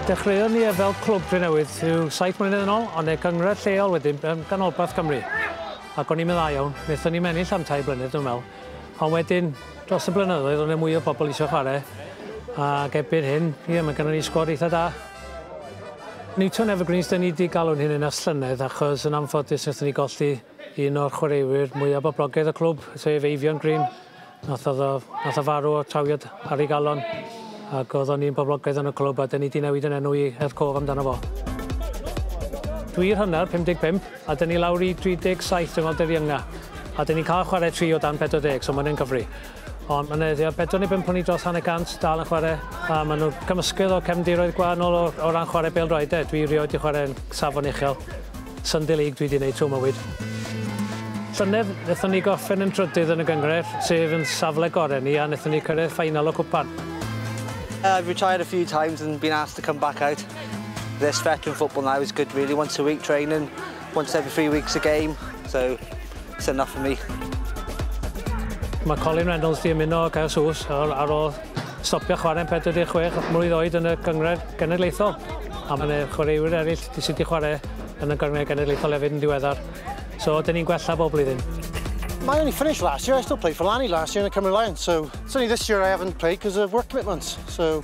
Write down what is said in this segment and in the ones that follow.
Dechreuon ni e fel clwb Drenewydd rhyw saith mlynedd yn ôl, ond e gynghrair lleol wedyn yn ganolbarth Cymru. Ac o'n i'n meddai iawn, wnaethon ni'm ennill am tair blynedd dwi'n meddwl. Ond wedyn, dros y blynyddoedd, o'n e mwy o bobl eisiau chwarae. Ac erbyn hyn, ie, mae gennym ni sgwad eitha da. Newton Evergreens 'da ni 'di galw'n hyn yn ers llynedd achos yn anffodus nathon ni golli un o'r chwaraewyr mwya boblogaidd y clwb sef Eifion Green nath o'dd o nath o farw o trawiad ar ei galon ag o'dd o'n un boblogaidd yn y clwb a 'dyn ni 'di newid yn enw i Ed Cole amdano fo. Dwi i'r hannar, 55, a 'dyn ni lawr i 37 dwi me'wl dyddiynga a 'dyn ni'n ca'l chware tri o dan pedwar deg so ma' wnna'n cyfri. Ond mae 'na tua bedwar neu bump o ni dros hanner cant dal yn chwarae, a maen nhw'n cymysgedd o cefndiroedd gwahanol o, o ran chwarae bêl-droed de. Dwi rioed wedi chwarae yn safon uchel. Sunday League dwi wedi wneud trwy mywyd. Llynedd, wnaethon ni gorffen yn drydydd yn y gynghrair, sef yn safle gorau ni, a wnaethon ni cyrraedd ffainal y cwpan. I've retired a few times and been asked to come back out. This veteran football now is good really, once a week training. Once every three weeks a game, so it's enough for me. Mae Colin Reynolds 'di ymuno â Caersws ar ar ôl stopio chwarae'n 46 mlwydd oed yn y Gynghrair Genedlaethol, a mae 'na chwaraewyr eraill sy' 'di chwarae yn y Gynghrair Genedlaethol hefyd yn diweddar. So 'dyn ni'n gwella bob blwyddyn. I only finished last year, I still played for Lanny last year in the Cymru Lions, so it's only this year I haven't played because of work commitments, so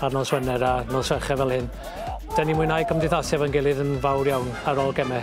ar nos Wener a nos Fercher fel hyn. Dyn ni mwynhau cymdeithasu efo'n gilydd yn fawr iawn ar ôl geme.